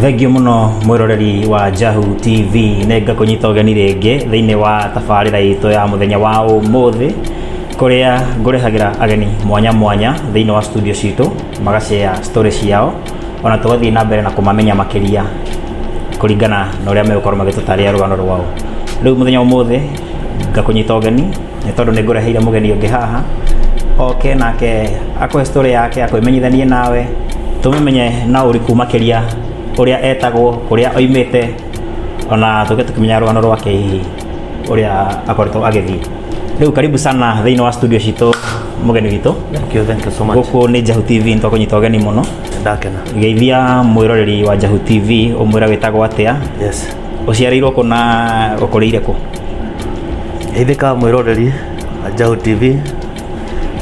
Thengio mũno mwĩroreri wa Jahu TV nĩ ngakũnyita ũgeni rĩngĩ thĩinĩ wa tabarĩra itũ ya mũthenya wa ũmũthĩ kũrĩa ngũrehagĩra ageni mwanya mwanya thĩinĩ wa studio citũ magacea story ciao ona tũgathiĩ na mbere na kũmamenya makĩria kũringana na ũrĩa megũkorwo magĩtũtarĩra rũgano rwao rĩu mũthenya wa ũmũthĩ ngakũnyita ũgeni nĩ tondũ nĩ ngũreheire mũgeni ũngĩ haha oke nake akũhe story yake akwĩmenyithanie nawe tũmĩmenye na ũriku makĩria ũrĩa etagwo kũrĩa oimĩte ona tũke tũkĩmenya rũgano rwake hihi ũrĩa akoretwo agĩthiĩ rĩu karibu sana thĩinĩ wa studio citũ mũgeni witũ Thank you, thank you so much. gũkũ nĩ njahu tv nitwakũnyita ũgeni mũno Ndakena. geithia mwĩroreri wa njahu tv ũmwĩra wĩtagwo atĩa Yes. Ũciarĩirwo kũ na ũkũrĩire kũ? Ithika mwĩroreri wa Njaũ TV,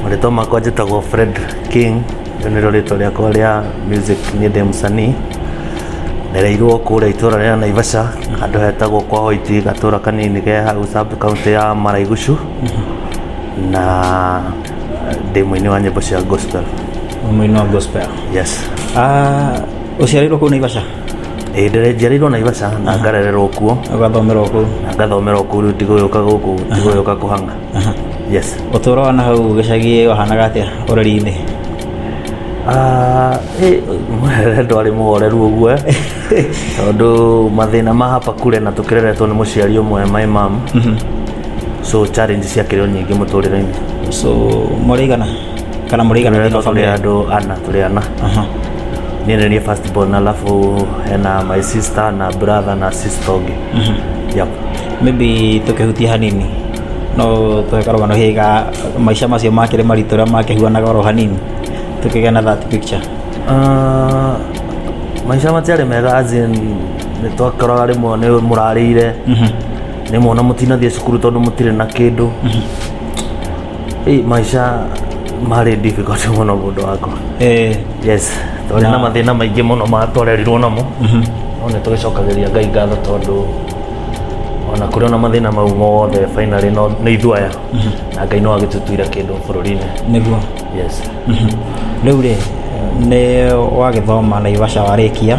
marĩtwa makwa njĩtagwo Fred King, rĩu nĩrĩo rĩtwa rĩakwa rĩa music, niĩ ndĩ mũcani, ndereirwo kũrĩa itũra rĩa Naivasha handũ hetagwo kwa Hoiti, gatũra kanini ke hau sub county ya Maraigucu, na ndĩ mũini wa nyĩmbo cia gospel. Mũini wa gospel. Yes. Ah, ũciarĩirwo kũ Naivasha? Ĩĩ ndĩrenjiarĩirwo Naivasha na ngarererwo kuo ũgathomerwo kũu na ngathomerwo kũu rĩu ndigũgĩũka gũkũ ndigũgĩũka kũhang'a yes ũtũũro wa na hau gĩcagi wahanaga atĩa ũreri-inĩ Ah, eh, ndwarĩ mũhoreru ũguo eh. tondũ mathĩna ma hapa kure na tũkĩreretwo nĩ mũciari ũmwe my mam so challenge ciakĩrĩ o nyingĩ mũtũrĩre-inĩ so mũrĩigana kana mũrĩ igana rĩmwe tũrĩ famĩlĩ andũ ana tũrĩ ana Aha. niĩ nĩ niĩ first born alafu hena my sister na brother na sister ũngĩ yep. maybe tũkĩhutia hanini no tũhe karũgano higa maica macio makĩrĩ maritũ ũrĩa makĩhuanaga oro hanini tũkĩgĩa na that picture Ah, maica matiarĩ mega as in nĩ twakoraga rĩmwe nĩ mũrarĩire nĩ mwana mũtinathiĩ cukuru tondũ mũtirĩ na kĩndũ Hii maisha marĩ difficult mũno mũndũ wakwa Eh, yes twarĩ na Na- mathĩna maingĩ mũno ma twarerirwo namo no nĩ tũgĩcokagĩria ngai ngatho tondũ ona kũrĩ ona mathĩna mau mothe finally no nĩ ithuaya na ngai no agĩtũtuire kĩndũ bũrũri-inĩ nĩguo yes rĩu rĩ nĩ wagĩthoma naivasha warĩkia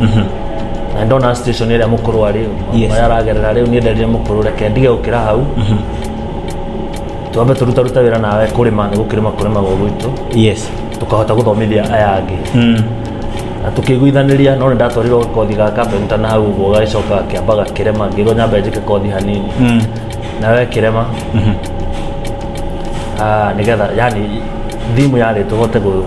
Mhm. na ndona station ĩrĩa mũkũrũ arĩ Yes. ũrĩa aragerera rĩu niĩ ndarire mũkũrũ reke ndige gũkĩra hau twambe tũrutarute wĩra nawe kũrĩma nĩ gũkĩrĩma kũrĩmagwo gwitũ yes tũkahota gũthomithia aya angĩ Mm. na tũkĩiguithanĩria no nĩ ndatwarirwo kothi ga kapenta na hau ũguo gagĩcoka kĩamba gakĩrema ngĩrwo nyambe njĩke kothi hanini Mm. nawe kĩrema Ah, nĩgetha yani thimũ yarĩ tũhote gũ-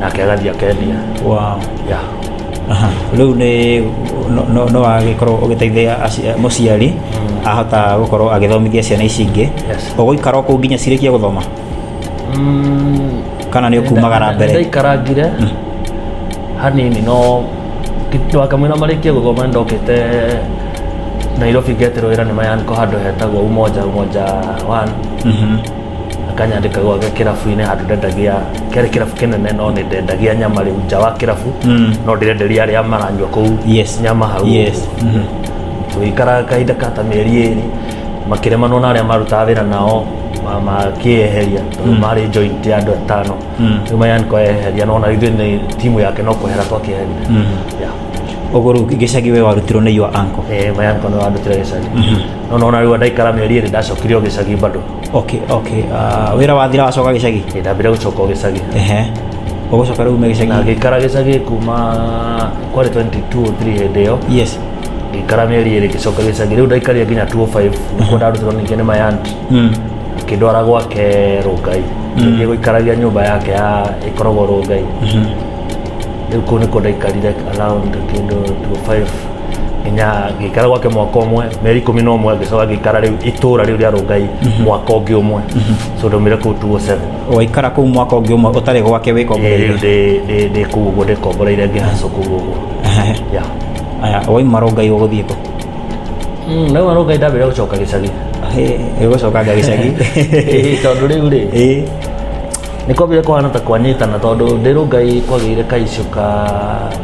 nake agathiĩ akendia wow. yeah. Aha. rĩu nĩ no- no- no agĩkorwo ũgĩteithia aci- mũciari ahota gũkorwo agĩthomithia ciana ici ingĩ Yes. ũgũikara kũu nginya cirĩkie gũthoma Mm, kana nĩ ũkumagara mbere ndaikarangire hanini no wakamwĩra marĩkie gũthoma nĩ ndokĩte nairobi ngeterwo wĩra nĩ mayanĩkwo handũ hetagwo umoja umoja one Mhm. akanyandĩka gwake kĩrabu-inĩ handũ ndendagia kĩarĩ kĩrabu kĩnene no nĩ ndendagia nyama rĩu nja wa kĩrabu Mm. no ndirenderia arĩa maranyua kũu Yes. nyama hau Yes. ũguo. tũgĩikara kahinda ka ta mĩeri ĩrĩ makĩremanwo na arĩa marutaga wĩra nao ma- makĩeheria tondũ marĩ joint ya andũ atano Mm. rĩu mayan kweheria no na ithuĩ nĩ timu yake no kwehera twakĩeheria Mm. Yeah. ũguo rĩu gĩcagi we warutirwo nĩ your uncle Eh, mayan kono andutire gĩcagi no nona rĩu ndaikara mĩeri ĩrĩ ndacokire o gĩcagi bado okay okay uh, wira wathira wacoka gicagi ndambire gucoka o gicagi ehe ugucoka riu ume gicagi na ngikara gicagi kuma kwari 22 3 hindi iyo yes ngikara mieri iri ngicoka gicagi riu ndaikaria nginya 205 nikuo ndarutirwo ningi ni my aunt mm. akindwara gwake rungai ngiye guikaragia nyumba yake ya ikoragwo rungai riu kuu nikuo ndaikarire around kindu 25 nginya ngĩikara gwake mwaka ũmwe mĩeri ikũmi na ũmwe ngĩcoka ngĩikara rĩu itũra rĩu rĩa rũngai mhm. mwaka ũngĩ ũmwe mhm. so ndaumire kũu 207 waikara kũu mwaka ũngĩ ũmwe ũtarĩ gwake wĩkomboreire ndĩ kũu ũguo ndĩkomboreire ngĩhacũ kũu ũguo aya waima rũngai ũgũthiĩ kũ mm, nauma rũngai ndambire gũcoka gĩcagi gũcokanga gĩcagi tondũ rĩu rĩ nä kwambire kå hana ta kwanyitana tondå ndä rå ngai kwagä ire kaicå ka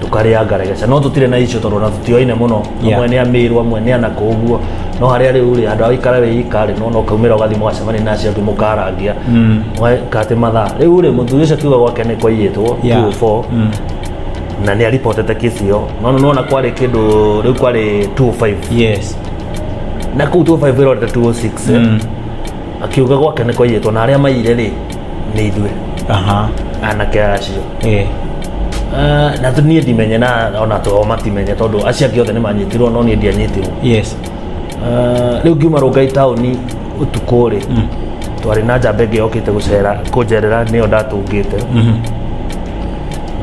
tukarĩa ngaregeca no tutire na icio tondu na tutioine muno Yeah. amwe ni amiru amwe ni anako uguo no haria riu ri andu agikara wi ikari no no kaumira ugathi mugacemania na acio angi mukarangia kati mathaa riu ri muthuri ucio kiuga gwake ni kwaiyitwo Yeah. 204 Mm. na ni aripotete kesi iyo no no na kwari kindu riu kwari 205 yes na kuu 205 irorete 206 eh. akiuga gwake nä kwaiyätwo na arä a maire rä nĩ ithuĩ aha anake acio eh Ah, na tu- niĩ ndimenye na ona twao matimenye tondũ acio angĩ othe nĩ manyitirwo no niĩ ndianyitirwo yes Ah, rĩu ngiuma rũngai taũni ũtukũ rĩ twarĩ na njamba ĩngĩ yokĩte gũcera kũnjerera nĩyo ndatũngĩte mhm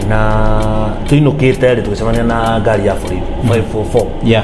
na tũinũkĩte rĩ tũgĩcemania na ngari ya borithi 544 yeah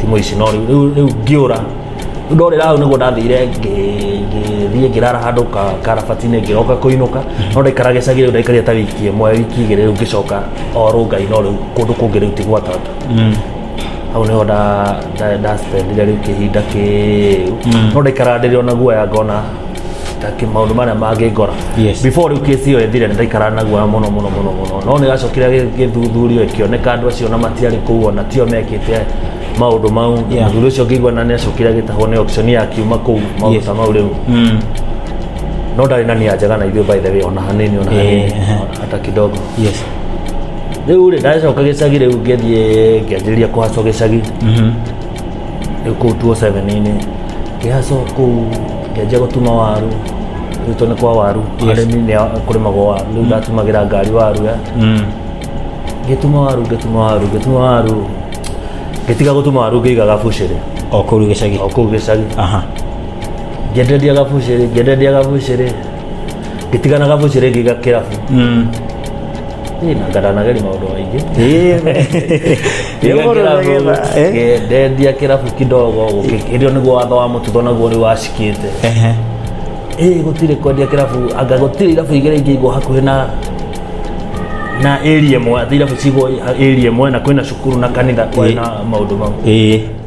timu ici no rĩu- rĩu rĩu ngĩũra rĩu ndorĩra hau nĩguo ndathire ngĩthiĩ ngĩrara handũ ka- karabatinĩ ngĩroka kũinũka no ndaikara gĩcagi rĩu ndaikaria ta wiki ĩmwe wiki igĩrĩ rĩu ngĩcoka o rũngai no rĩu kũndũ kũngĩ rĩu ti gwatata hau nĩho nda- nda- ndaspendire rĩu kĩhinda kĩu no ndaikara ndĩrĩ ona guoya ngona take maundu maria mangingora Yes. before riu kesi iyo ithire ndaikara naguo muno muno muno muno no nigacokire githuthurio ikioneka andu acio na matiari kuu ona tio mekite maundu mau Yeah. muthuri ucio ngigua na niacokire agitahwo ni option ya kiuma kuu maundu Yes. ta mau riu Mm. no ndari na nia njega na ithuĩ by the way ona hanini ona Eh, hanini eh. hata kidogo Yes. rĩu rĩ ndacoka gĩcagi rĩu ngĩthiĩ ngĩanjĩrĩria kũhacwo gĩcagi Mhm. rĩu kũu tuo seven-inĩ ngĩhaco kũu ngĩanjia gũtuma waru rĩu to nĩ kwa waru arĩmi nĩ a- kũrĩmagwo waru rĩu ndatumagĩra ngari waru ya ngĩtuma waru ngĩtuma waru ngĩtuma waru ngĩtiga gũtuma waru ngĩigaga bucĩrĩ o kũu gĩcagi o kũu gĩcagi aha ngĩenderia gabucĩrĩ ngĩenderia gabucĩrĩ gĩtiganaga mũciĩ rĩngĩ gakĩrabu Mm. Ĩĩ, na ngananageria maũndũ maingĩ Eh? ndendia kĩrabu kidogo gũkĩkĩrio nĩguo watho wa mũtutho naguo rĩu wacikĩte Ehe. ĩĩ gũtirĩ kwendia kĩrabu anga gũtirĩ irabu igĩrĩ ingĩ igwo hakuhĩ na na area ĩmwe atĩ irabu cigwo area ĩmwe na kwĩna cukuru na kanitha kwĩna maũndũ mau Ĩĩ.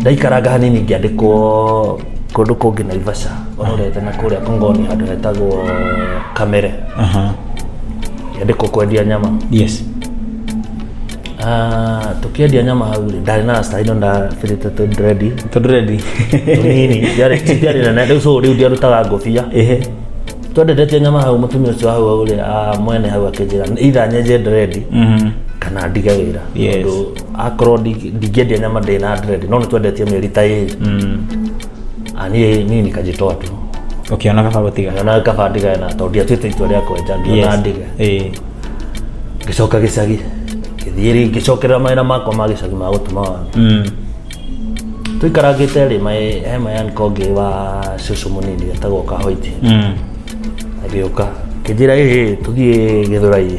ndaikaranga hanini ngĩandĩkwo kũndũ kũngĩ naivasha ororete na kũrĩa kongoni handũ hetagwo kamere ngĩandĩkwo kwendia nyama yes Ah, tũkĩendia nyama hau rĩ ndarĩ na rasta ino ndabĩrĩte tũndrendi tondũ rendi tũnini ndiarĩ ti ndiarĩ nene rĩu so rĩu ndiarutaga ngũbia ehe twendetetie nyama hau mũtumia ũcio hau hau rĩ ah, mwene hau akĩnjĩra itha nyenje ndrendi Mhm. kana ndige wĩra Yes. Tondũ akorwo ndi- ndingĩendia nyama ndĩ na dread no nĩ twendetie mĩeri ta ĩrĩ Ah, niĩ niĩ nikajĩtoa tu ũkĩona kaba gũtiga ngĩona kaba ndigae na tondũ ndiatuĩte itua rĩa kwenja ngĩona ndiga Ĩĩ. ngĩcoka gĩcagi ngĩthiĩ rĩ- ngĩcokerera mawĩra makwa ma gĩcagi ma gũtuma wara Mm. tũikarangĩte rĩ maĩ- he mayanko ngĩ wa cũcũ mũnini etagwo kahoiti Mm. agĩũka kĩnjĩra ĩhĩ tũthiĩ gĩthũrai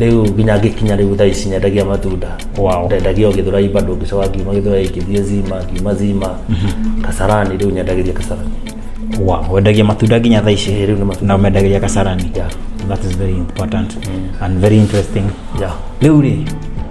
rĩu nginya ngĩkinya rĩu thaa ici nyendagia matunda Wow. ndendagia o gĩthũrai bado ngĩcoka ngiuma gĩthũrai ngĩthiĩ zima ngiuma zima kasarani rĩu nyendagĩria kasarani Wow. wendagia matunda nginya thaa ici rĩu nĩ matunda na ũmendagĩria kasarani Yeah. that is very important and very interesting yeah. rĩu rĩ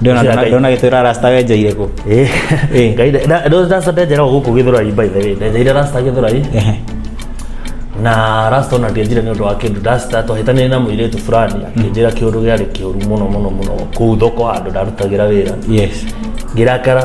ndona Ngai. ndona gitwira rasta wenjeire ku Eh. Eh. Ngai nda- nda- nda- rasta ndenjera o gũkũ gĩthũrai by the way ndenjeire rasta gĩthũrai Ehe. na rasta ona ndĩanjire nĩ ũndũ wa kĩndũ rasta twahĩtanĩire na mũirĩtu fulani akĩnjĩra kĩũndũ gĩarĩ kĩũru mũno mũno mũno kũu thoko handũ ndarutagĩra wĩra yes ngĩrakara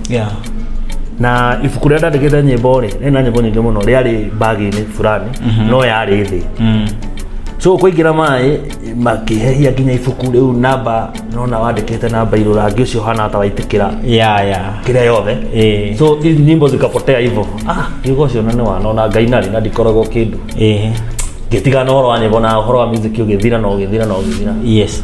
yeah. na ibuku rĩa ndandĩkĩte nyĩmbo rĩ nĩ na nyĩmbo nyingĩ mũno rĩarĩ mbagi-inĩ fulani no yarĩ thĩ Mm. so kũingĩra maĩ makĩhehia nginya ibuku rĩu namba nona wandĩkĩte namba irũ rangi ũcio hana ta waitĩkĩra yeah, yeah. kĩrĩa yothe Eh. so hizi nyimbo zikapotea hivyo ah yugo cio na nĩ wanona ngai narĩ na ndikoragwo kĩndũ Eh. ngĩtigana ũhoro wa nyĩmbo na ũhoro wa music ũgĩthira na ũgĩthira na ũgĩthira yes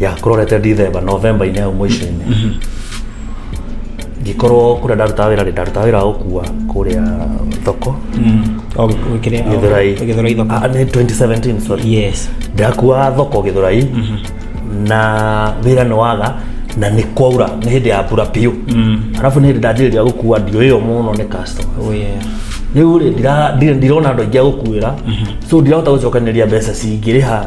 ya kurorete ndithemba novemba-inĩ hau mũico-inĩ mhm. ngĩkorwo kũrĩa ndarutaga wĩra rĩ ndarutaga wĩra wa gũkua kũrĩa thoko mm. gĩthurai ah, nĩ 2017 sorry ndakua thoko gĩthurai mhm. na wĩra nĩ waga na nĩ kwaura nĩ hĩndĩ ya mbura biũ mm. arabu nĩ hĩndĩ ndanjĩrĩria gũkua ndio ĩyo mũno nĩ customer oh, rä u rä ndirona andå aingä agå kuä ra so ndirahota gå cokanä ria mbeca cingä rä ha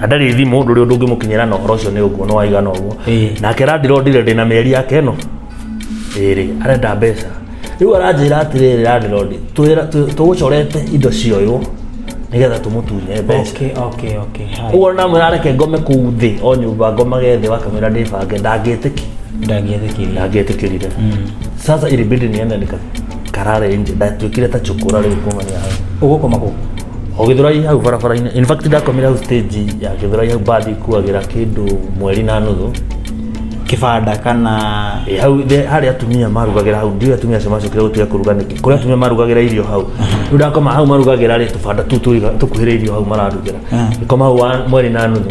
na ndarĩ thimũ ndũrĩ ũndũ ũngĩmũkinyĩra na ũhoro ũcio nĩ ũguo nĩ waigana ũguo Ĩĩ. nake randira ndire ndĩ na mĩeri yake ĩno ĩrĩ arenda mbeca rĩu aranjĩra atĩrĩrĩ randira ndĩ tũgũcorete indo cioywo nĩgetha tũmũtunye mbeca okay okay okay hai ũguo namwĩra areke ngome kũu thĩ o nyũmba ngomage thĩ wakamwĩra ndĩbange ndangĩtĩki ndangĩetĩkĩria ndangĩtĩkĩrire sasa ilibidi niende nika karare nje ndatuĩkire ta chukura rĩu kuma nĩ hau ũgũkoma kũ o githurai hau barabara-inĩ in fact ndakomire hau stage ya githurai hau mbathi kuagĩra kĩndũ mweri na nuthu kibanda kana Eh, hau the- harĩa atumia marugagĩra hau ndiũ atumia acio macokire gũtiga kũruga nĩkĩ kũrĩa atumia marugagĩra irio hau rĩu ndakoma hau marugagĩra rĩ tũbanda tu tũiga- tũkuhĩrĩirio hau mararugĩra Ah. ngĩkoma hau wa- mweri na nuthu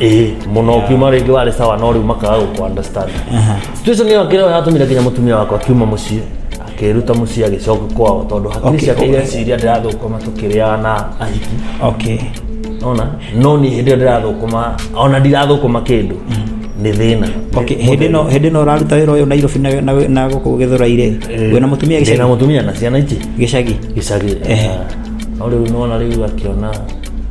ĩhĩ muno ukiuma ringi wari sawa no riu makaga guku understand situation iyo akira yatumire nginya mutumia wakwa akiuma mucii akiruta mucii agicoka kwao tondu hakiri Okay, ciake okay. ireciria ndirathukuma tukiriaga na ahiki okay ona no ni hindi iyo ndirathukuma ona ndirathukuma kindu ni thina okay hĩndĩ ĩno hĩndĩ ĩno ũraruta wĩra ũyũ nairobi na- na- na gũkũ gĩthũraire wĩna mũtumia na gĩcagi mutumia na ciana ici gĩcagi gicagi Ehe. no riu nona riu akiona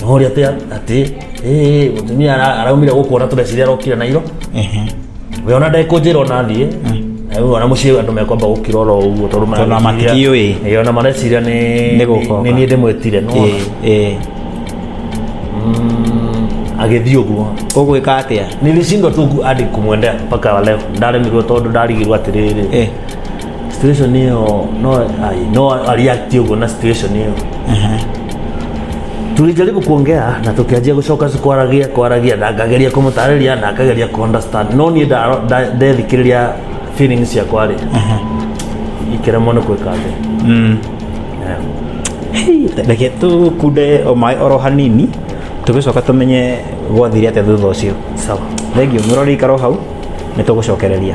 Tũmũria atia atĩ eh mutumia ara- araumire gũkuona tũreciria arokire na iro. Ehe. We ona ndekũnjĩra ona thiĩ. Na rĩu ona mũciĩ andũ mekwamba gũkira oro ũguo tondũ Tondũ ona matikĩũĩ. Eh, ona mareciria nĩ Nĩ gũkoka. nĩ niĩ ndĩmwĩtire no. Eh, eh. Mm, agĩthiĩ ũguo. Ũgwĩka atĩa? Nilishindwa tu hadi kumwendea mpaka wa leo. Ndaremirwo tondũ ndarigirwo atĩrĩrĩ. Eh. situation hiyo no ai, no aliakti uguo na situation hiyo tulijaribu kuongea na tukianjia gucoka kwaragia kwaragia na ngageria kumutariria na akageria ku understand no ni ndethikiriria feelings ciakwa ri ikiremwo ni gwika thi reke tå kunde o maä oro hanini tå gä coka tå menye gwathire atä thutha å cio sawa thengio ngä rorä ikaro hau nä tå gå cokereria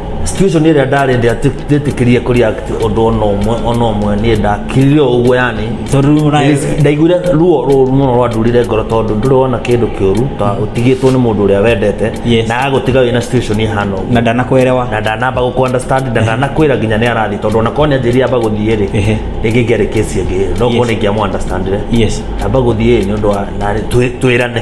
situation ĩrĩa ndarĩ ndĩ atĩ ndĩtĩkĩrie kũ react ũndũ ona ũmwe ona ũmwe niĩ ndakirire o ũguo yani Tondũ rĩu ũra- ndaiguire ruo rũru mũno rwandurire ngoro tondũ ndũrĩ wona kĩndũ kĩũru ta ũtigĩtwo nĩ mũndũ ũrĩa wendete Yes. na agũtiga wĩ na situation ĩhana ũguo na ndanakwelewa na ndanamba gå understand na ndanakwä nginya nä arathiä tondå ona korwo nä anjä ria amba gå thiä rä Ehe. rä ngä ngä arä kä cie ngä no Yes. korwo nä ingä amå understandire yes amba gå thiä nä å ndå wa twä rane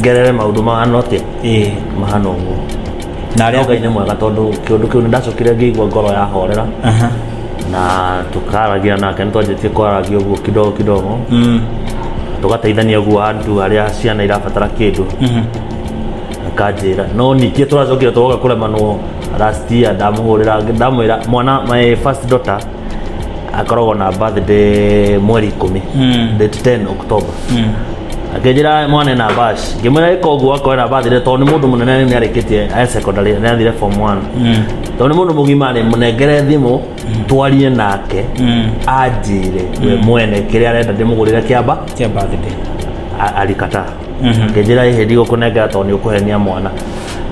ngerere maundu mahana atia ĩĩ mahana ũguo na arĩa ngai nĩ mwega tondũ kĩũndũ kĩu nĩ ndacokire ngĩigua ngoro ya horera Aha. na tũkaragia nake nĩ twanjĩtie kwaragia ũguo kidogo kidogo Mm. tũgateithania ũguo andũ arĩa ciana irabatara kĩndũ Mhm. akanjĩra no ningĩ tũracokire tũgoka kũremanwo last year ndamũhũrĩra ndamwĩra mwana my first daughter akoragwo na birthday mweri ikũmi Mm. date 10 october Mm. akĩnjĩra mwana na bash ngĩmwĩra ĩka ũguo akorwo na birthday tondũ nĩ mũndũ mũnene nĩ arĩkĩtie a secondary nĩ athire form 1 Mm. tondũ nĩ mũndũ mũgima rĩ mũnengere thimũ twarie nake Mm. anjĩre we mwene kĩrĩa arenda ndĩmũgũrĩre kĩamba Kia birthday. a- alikataa ngĩnjĩra hihi ndigũkũnengera tondũ nĩ ũkũhenia mwana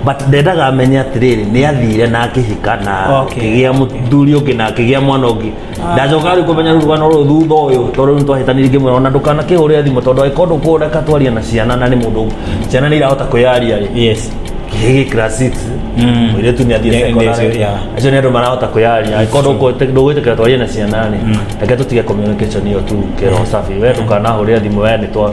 but ndendaga amenye atĩrĩrĩ nĩ athire na akĩhika na Okay. akĩgĩa mũthuri ũngĩ na akĩgĩa mwana ũngĩ ndacoka rĩu kũmenya rĩu rũgano rũrũ thutha ũyũ tondũ rĩu nĩ twahĩtanire ngĩmwĩra ona ndũkanakĩhũrĩre thimũ tondũ angĩkorwo ndũkũreka twaria na ciana na nĩ mũndũ ciana nĩ irahota kwĩyaria rĩ yes gigi class 6 Mm. mũirĩtu nĩ athiĩ Nĩ- nĩ secondary acio, yeah. acio nĩ andũ marahota kwĩyaria angĩkorwo ndũkũ- ndũgwĩtĩkĩra twarie na ciana rĩ reke tũtige communication ĩyo tu kĩro sabi we ndũkanahũrĩre thimũ we nĩ twa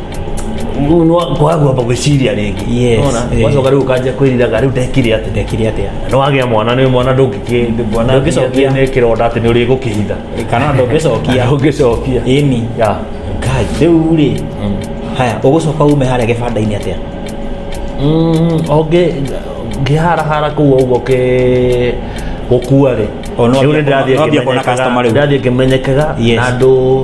kwagua gwĩciria rĩngĩ Yes, Nĩwona? eh. wacoka rĩu ũkanjia kwĩriraga rĩu ndekire atĩ ndekire atĩa nĩ wagĩa mwana nĩ mwana ndũngĩkĩ- mwana Ndũngĩcokia. nĩ kĩronda atĩ nĩ ũrĩgũkĩhitha kana ndũngĩcokia ũngĩcokia ĩni Ya. ngai rĩu rĩ haya ũgũcoka ume harĩa gĩbanda-inĩ atĩa Mm, ũngĩ ngĩharahara kũu ũguo kĩ gũkua rĩ O, no Rĩu ambia- nĩndĩrathiĩ no ambia kuona ngĩmenyekaga- customer rĩu. ndĩrathiĩ ngĩmenyekaga Yes. na andũ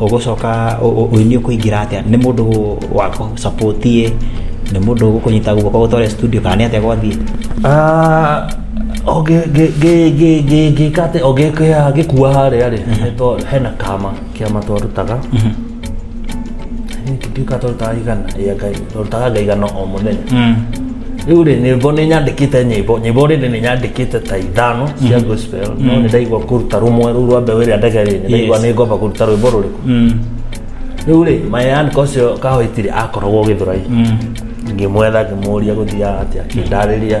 ũgũcoka ũini ũkũingĩra atĩa, nĩ mũndũ wa kũ support ĩ, nĩ mũndũ ũgũkũnyita guoko ũgũtware studio kana nĩ atĩa gwathiĩ? Ngĩka atĩ o ngĩkua harĩa rĩ, nĩ tondũ hena kama, kĩama twarutaga, I think twatuĩkaga twarutaga igana rĩa Ngai. ndutaga nga igana o muthenya riu ri nyimbo ni nyandikite nyimbo nyimbo rindi ni nyandikite ta ithano cia gospel no ni ndaigua kuruta rumwe ru rwa mbeu iria ndege ri ndaigua ni ngomba kuruta rwimbo ruriku riu ri mayan kocio kahoitiri akoragwo githurai ngimwetha ngimuria guthiaga atia kindariria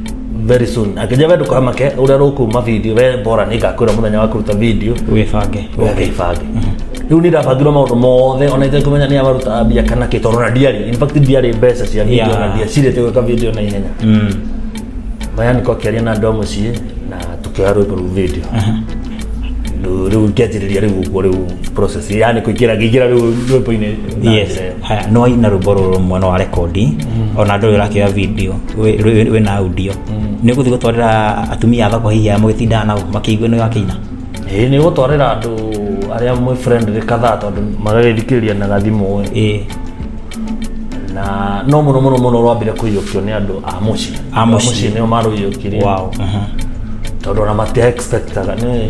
very soon akĩnja we ndũkamake ũrĩa rũkuma video we bora nĩ ngakwĩra mũthenya wa kũruta video wĩbange ũgĩbange rĩu nĩ ndabangirwo maũndũ mothe ona itekũmenya nĩ abaruta mbia kana kĩ tondũ na ndiarĩ in fact ndiarĩ mbeca cia video Yeah. na ndiacirĩte gwĩka video na ihenya Mm. maya nĩko akĩaria na andũ a mũciĩ na tũkĩoya rwĩmbo rũu video Rĩu- rĩu ngĩanjĩrĩria rĩu ũguo rĩu process yani kũingĩra ngĩingĩra rĩu rwĩmbo-inĩ na Yes. njĩra ĩyo. Haya, nĩ waina rwĩmbo rũrũ mwena wa rekondi mm. ona ndũrĩ ũrakĩoya video wĩ na audio mm. nĩ ũgũthiĩ gũtwarĩra atumia athako hihi aya mũgĩtindaga nao makĩigue nĩ wakĩina ĩĩ nĩ gũtwarĩra andũ arĩa mwĩ friend rĩ kadhaa tondũ magagĩthikĩrĩria na gathimũ ĩĩ na no mũno mũno mũno rwambire kũiyũkio nĩ andũ a mũciĩ a mũciĩ nĩo marũiyũkirie wow. uh -huh. tondũ ona matia expectaga nĩ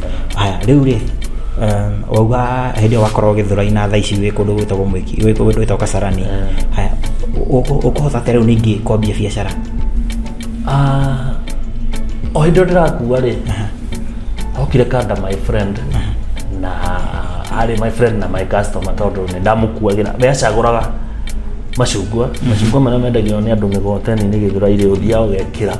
Haya, rĩu rĩ, um, wauga hĩndĩ ĩyo wakorwo gĩthũraina thaa ici wĩ kũndũ gwĩtagwo mwĩki wĩ kũndũ gwĩtagwo kasarani haya ũ- ũ- ũkũhota atĩa rĩu ningĩ kwambia biacara Ah, o hĩndĩ ĩyo ndĩrakua rĩ hokire kanda my friend na arĩ my friend na my customer tondũ nĩ ndamũkuagĩra we acagũraga macungwa macungwa marĩa mendagio nĩ andũ mĩgoteni-inĩ gĩthũra-inĩ ũthiaga ũgekĩra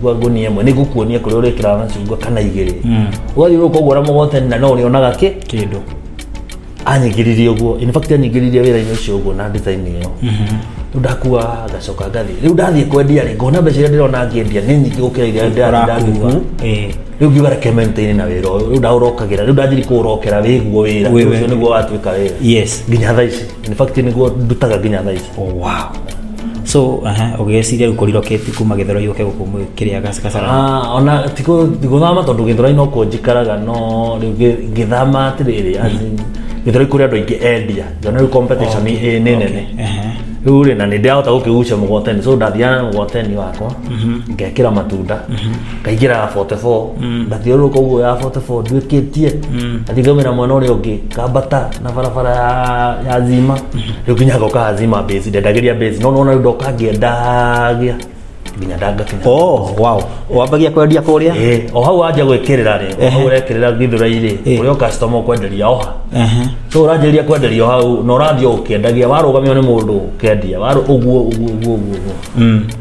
ngua ngũnia ĩmwe nĩngũkuonia kũrĩa ũrĩkĩraga macungwa kana igĩrĩ ũgathiĩ ũka ũguo ũramũgotani na no ũrĩonaga kĩ kĩndũ anyingĩririe ũguo in fact anyingĩririe wĩra-inĩ ũcio ũguo na design ĩyo rĩu ndakua ngacoka ngathiĩ rĩu ndathiĩ kwendia rĩ ngona mbeca iria ndĩrona ngĩendia nĩ nyingĩ gũkĩra iria ndĩra- ndakua ũrakuo ĩĩ rĩu ngiuga reke maintain na wĩra ũyũ rĩu ndaũrokagĩra rĩu ndathiĩ kũũrokera wĩguo wĩra Wĩ- ũcio nĩguo watuĩka wĩra yes nginya thaa ici in fact niguo ndutaga nginya thaa ici oh, wow so aha ugeciria riu kuriro keti kuma githero yuke guku kiria gasara ah ona tiko guthama tondu githero ino ko njikaraga no githama atiriri as in githero ikuri andu aingi endia jona riu competition ni ni nene riu ri na ni ndirahota gukigucia mugoteni so ndathiana mugoteni wakwa mhm. ngekira matunda mhm. ngaingĩra 44 ngathiũrũrũka ũguo ya 44 nduĩkĩtie ngathiĩ ngaumĩra mwena ũrĩa ũngĩ ngambata na barabara ya- ya zima rĩu nginya ngoka zima base ndendagĩria base no nona rĩu ndoka ngĩendagia nginya ndagakinya oh wow wambagia kwendia kũrĩa Eh, o hau wanja gwĩkĩrĩra rĩ o hau ũrekĩrĩra githũrai-rĩ Eh. ũrĩa customer ũkwenderia oha Ehe. so ũranjĩrĩria kwenderia o hau na ũrathiĩ ũkĩendagia warũgamio nĩ mũndũ ũkendia warũ- ũguo ũguo ũguo ũguo ũguo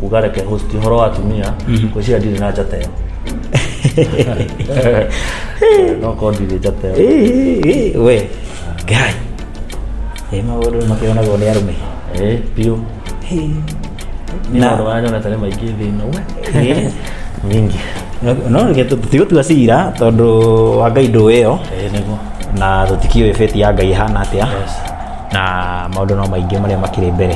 kuga reke host horo wa atumia ngwĩciria ndirĩ na njata ĩyo no korwo ndirĩ njata ĩyo Ĩ, ĩ, ĩ, we ngai ĩ maũndũ nĩ makĩonagwo nĩ arũme Eh, biũ Hĩ. nĩ Na- maũndũ marĩa nyonete nĩ maingĩ thĩ ĩno we Ĩ. mingi no reke tũ- tũtigũtua cira tondũ wa ngai ndũĩ ĩyo Eh, nĩguo na tũtikiũĩ beti ya ngai ĩhana atĩa Yes. na maũndũ no maingĩ marĩa makĩrĩ mbere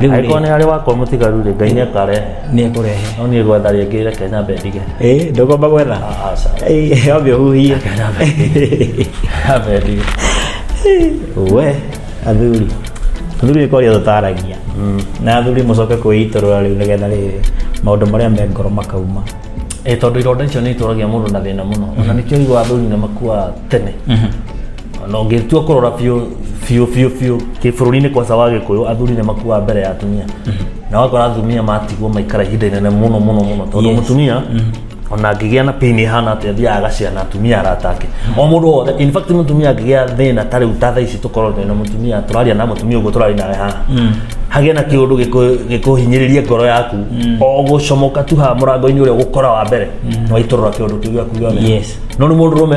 Rĩu rĩ- agĩkorwo nĩ arĩ wakwa mũtigaru rĩ ngai nĩ akarehe nĩ ekũrehe no niĩ gwetha rĩngĩ reke nyambe ndige ĩ ndũgomba gwetha aca Ĩ, wambe ũhuhie nyambe ndige we athuri athuri nĩ kwaria tũtaragia na athuri mũcoke kwĩitũrũra rĩu nĩgetha rĩrĩ maũndũ marĩa me ngoro makauma ĩ tondũ ironda icio nĩ itũragia mũndũ na thĩna mũno ona nĩkĩo igwa athuri nĩ makuaga tene na ũngĩtua kũrora biũ biũ biũ biũ kĩbũrũri-inĩ kwa sawa gĩkũyũ athuri nĩ makuaga mbere ya atumia na wakora atumia matigwo maikara ihinda inene mũno mũno mũno tondũ Yes. mũtumia ona angĩgĩa na pain ĩhana atĩ athiaga agacira na atumia arata ake o mũndũ wothe in fact mũtumia angĩgĩa thĩna ta rĩu ta thaa ici tũkorwo twĩ na mũtumia tũraria na mũtumia ũguo tũraria nawe haha hagĩe na kĩũndũ gĩkũ- gĩkũhinyĩrĩrie ngoro yaku o gũcomoka tu haha mũrango-inĩ ũrĩa gũkora wa mbere nĩwaitũrũra kĩũndũ kĩu gĩaku gĩothe Yes. no nĩ mũndũ rũme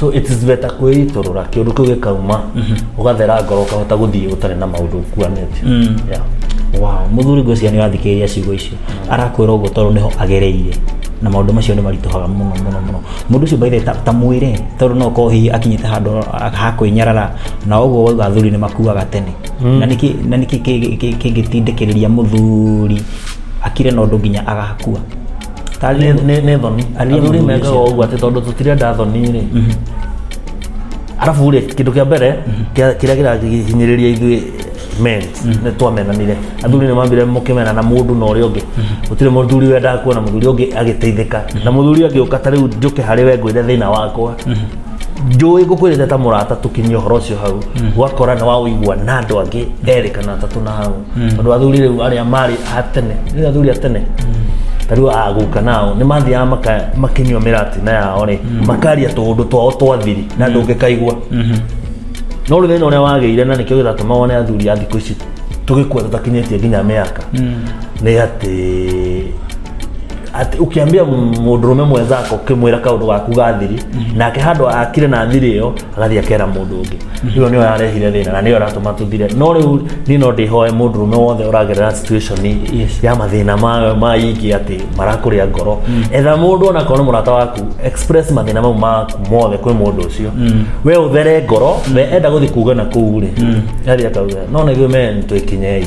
so it is better kwĩitũrũra kĩũndũ kĩu gĩkauma ũgathera ngoro ũkahota gũthiĩ ũtarĩ na maũndũ ũkuanĩte Yeah. wow mũthuri ngwĩciria nĩ ũrathikĩrĩria ciugo icio arakwĩra ũguo tondũ nĩho agereire na maũndũ macio nĩ maritũhaga mũno mũno mũno mũndũ ũcio baithe ta, ta mwĩre tondũ no korwo hihi akinyĩte handũ a- ha kwĩnyarara na ũguo wauga athuri nĩ makuaga tene na nĩkĩ na nĩkĩ kĩ- kĩ- kĩngĩtindĩkĩrĩria mũthuri akire na ũndũ nginya agakua Ta nĩ nĩ nĩ thoni Aliye athuri mega mũgucia. ũguo atĩ tondũ tũtirenda thoni rĩ arabu rĩ kĩndũ kĩa mbere kĩa- kĩrĩa kĩrahinyĩrĩria ithuĩ men nĩ twamenanire athuri nĩ mambire mũkĩmena na mũndũ na ũrĩa ũngĩ gũtirĩ mũthuri wendaga kuona mũthuri ũngĩ agĩteithĩka na mũthuri agĩũka ta rĩu njũke harĩ we ngwĩre thĩna wakwa njũĩ ngũkwĩrĩte ta mũrata tũkinyia ũhoro ũcio hau gwakora nĩ waũigua na andũ angĩ erĩ kana atatũ na hau tondũ athuri rĩu arĩa marĩ a tene nĩ athuri a tene ta rĩu aguka nao nĩ mathiaga maka- makĩnyua mĩratina yao rĩ makaria tũũndũ twao twa thiri na ndũngĩkaigua no rĩu thĩna ũrĩa wagĩire na nĩkĩo gĩgatũma wone athuri a thikũ ici tũgĩkua tũtakinyĩtie nginya mĩaka nĩ atĩ Ati ukiambia mundurume mwenzako ukimwira kaundu gaku gathiri nake handu akire na thiri iyo agathie akera mundu ungi iyo niyo yarehire thina na niyo ratuma tuthire no riu ni no ndihoe mundurume wothe uragerera situation Yes. ya mathina ma ma ingi ati marakuria ngoro etha mundu ona kono murata waku express mathina mau maku mothe kwi mundu ucio we uthere ngoro we enda guthi kuga na kuu ri athi akauga no na ithuĩ men twikinyei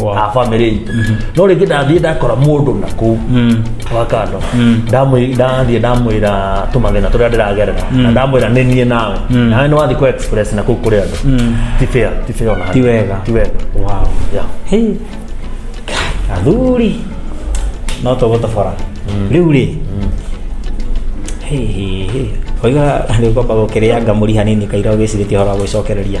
Wow. a bamĩrĩ itũ no rĩngĩ ndathiĩ ndakora mũndũ na kũu wa kando Ndamwĩ- ndathiĩ ndamwĩra tũmathĩna tũrĩa ndĩragerera na ndamwĩra nĩ niĩ nawe nawe nĩ wathiĩ kũ express na kũu kũrĩ andũ ti fair ti fair ona Ti wega. ti wega wow. yeah. Hey. athuri no tũgũtobora rĩu rĩ oiga rĩu kwamba gũkĩrĩanga mũri hanini kaira ũgĩcirĩtie ũhoro wa gwĩcokereria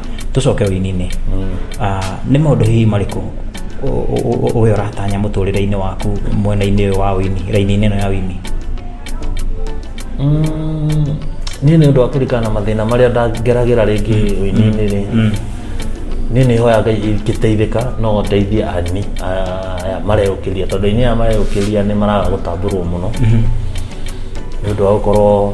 tũcoke ũininĩ Ah, nĩ maũndũ hihi marĩkũ ũ- ũ- ũ- ũwe ũratanya mũtũrĩre-inĩ waku mwena-inĩ ũyũ wa wini raini-inĩ ĩno ya wini Mm, niĩ nĩ ũndũ wa kũrikana na mathĩna marĩa ndangeragĩra rĩngĩ ũininĩ rĩ niĩ nĩ hoya ngai ingĩteithĩka no ndeithie ani aya mareyũkĩria tondũ aini aya mareyũkĩria nĩ maraga gũtambũrwo mũno nĩ ũndũ wa gũkorwo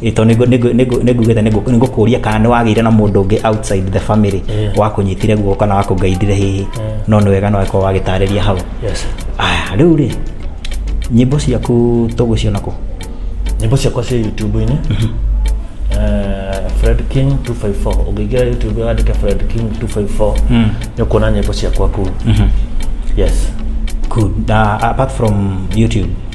ito ningugite ningukuria kana ni wagire na mundu ungi outside the family Yeah. wakunyitire guoko kana wakungeithire hihi no ni wega no weko wagitariria hau yes aya riu ri nyimbo ciaku tuguciona ku nyimbo ciakwa cia youtube-inĩ Eh, fred king 254 ũngĩingĩra youtube wandĩke fred king 254 Mm. nĩ ũkuona nyĩmbo ciakwa kuu yes good uh, apart from youtube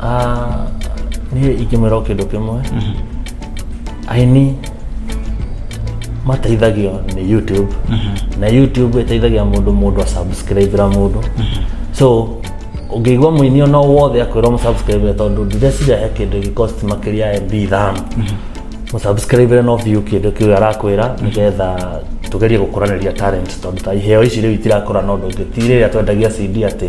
Ah, niä ingĩmwĩra o kĩndũ kĩmwe aini mateithagio nĩ youtube na youtube ĩteithagia mũndũ mũndũ asubscribera mũndũ so ũngĩigua mũini ona wothe akwĩrwo mũsubscribere tondũ ndireciria he kĩndũ gĩkosti makĩria ya mb ithano mũsubscribere no view kĩndũ kĩu arakwĩra nĩgetha tũgerie gũkũranĩria talent tondũ ta iheo ici rĩu itirakũra na ũndũ ũngĩ ti rĩrĩa twendagia cd atĩ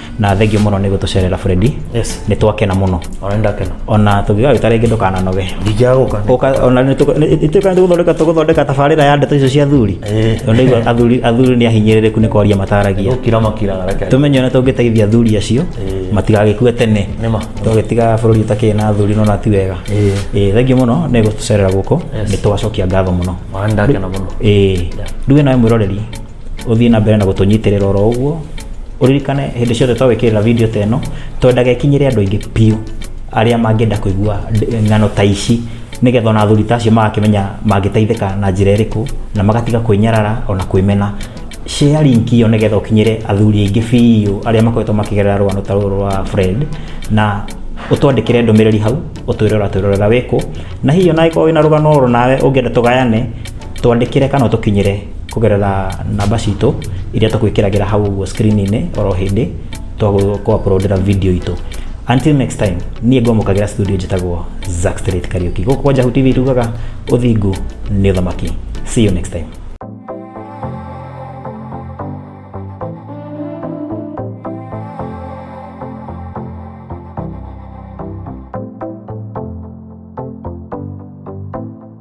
na thengio muno ni gutucerera Fredi yes ni twakena muno ona ndakena ona tugiga wita ringi ndukana noge ndijaguka uka ona ni tuka ni guthondeka tuguthondeka tabarira ya ndeto icio cia thuri eh ni athuri athuri ni ahinyiririku ni kwaria mataragia ukira makira reke tumenye ona tungiteithia athuri acio eh. matigagikue tene nima tugitiga bururi utakiri na athuri no na ti wega eh, eh thengio muno ni gutucerera guko ni twacokia ngatho muno ona ndakena muno eh nduwe nawe mwiroreri ũthiĩ na mbere na gũtũnyitĩrĩra oro ũguo ũririkane hĩndĩ ciothe twagwĩkĩrĩra video ta ĩno twendaga ĩkinyĩre andũ aingĩ biũ arĩa mangĩenda kũigua ng'ano ta ici nĩgetha ona athuri ta acio magakĩmenya mangĩteithĩka na njĩra ĩrĩkũ na magatiga kwĩnyarara ona kwĩmena share link iyo nĩgetha ũkinyĩre athuri aingĩ biũ arĩa makoretwo makĩgerera rũgano ta rũrũ rwa Fred na ũtwandĩkĩre ndũmĩrĩri hau ũtwĩre ũratwĩrorera wĩkũ na hihi ona angĩkorwo wĩna rũgano oro nawe ũngĩenda tũgayane twandĩkĩre kana ũtũkinyĩre kũgerera namba citũ iria tũkwĩkĩragĩra hau ũguo screen-inĩ oro hĩndĩ twakũapurondera video itũ until next time niĩ ngwamũkagĩra studio njĩtagwo Zack Street Kariuki gũkũ kwa Njahu TV tugaga ũthingu nĩ ũthamaki see you next time